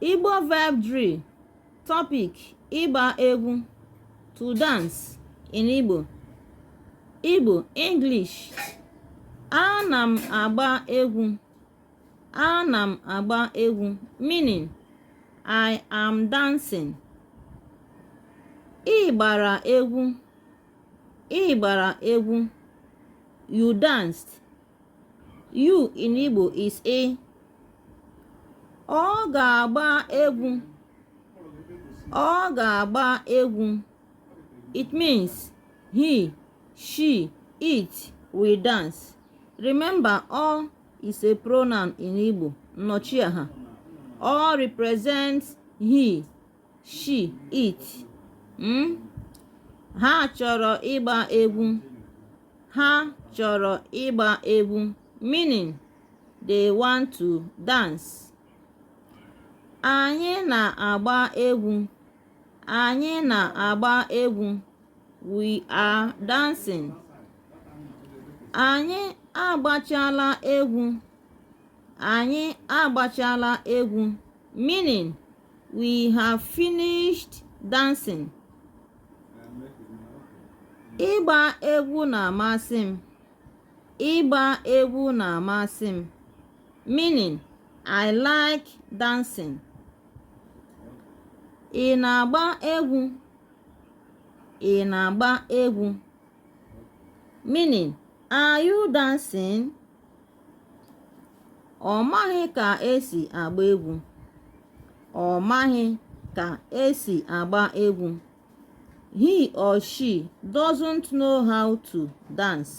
Igbo verb drill topic ịgba egwu to dance in Igbo Igbo English ana m agba egwu ana m agba egwu meaning I am dancing ị gbara egwu ị gbara egwu you danced You in Igbo is Ị. Ọ ga-agba egwu. Ọ ga-agba egwu. It means he, she, it will dance. Remember, ọ is a pronoun in Igbo, nnọchiaha. Ọ represents he. she it ha chọrọ ịgba egwu ha chọrọ ịgba egwu meaning they want to dance anyị na-agba egwu anyị na-agba egwu we are dancing anyị agbachala egwu anyị agbachala egwu meaning we have finished dancing ịgba egwu na-amasị m ịgba egwu na-amasị m meaning i like dancing ị na-agba egwu ị na-agba egwu meaning are you dancing ọ maghị ka esi agba egwu ọ maghị ka esi agba egwu he or she doesn't know how to dance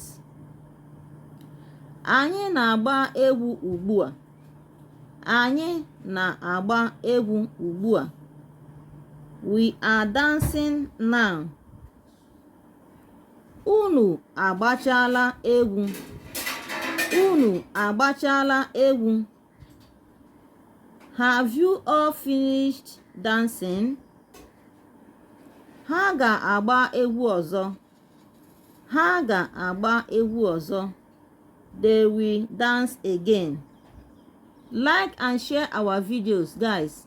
anyị na-agba egwu ugbu a anyị na-agba egwu ugbu a we are dancing now unu agbachala egwu unu agbachala egwu have you all finished dancing ha ga-agba egwu ọzọ ha ga-agba egwu ọzọ they will dance again like and share our videos guys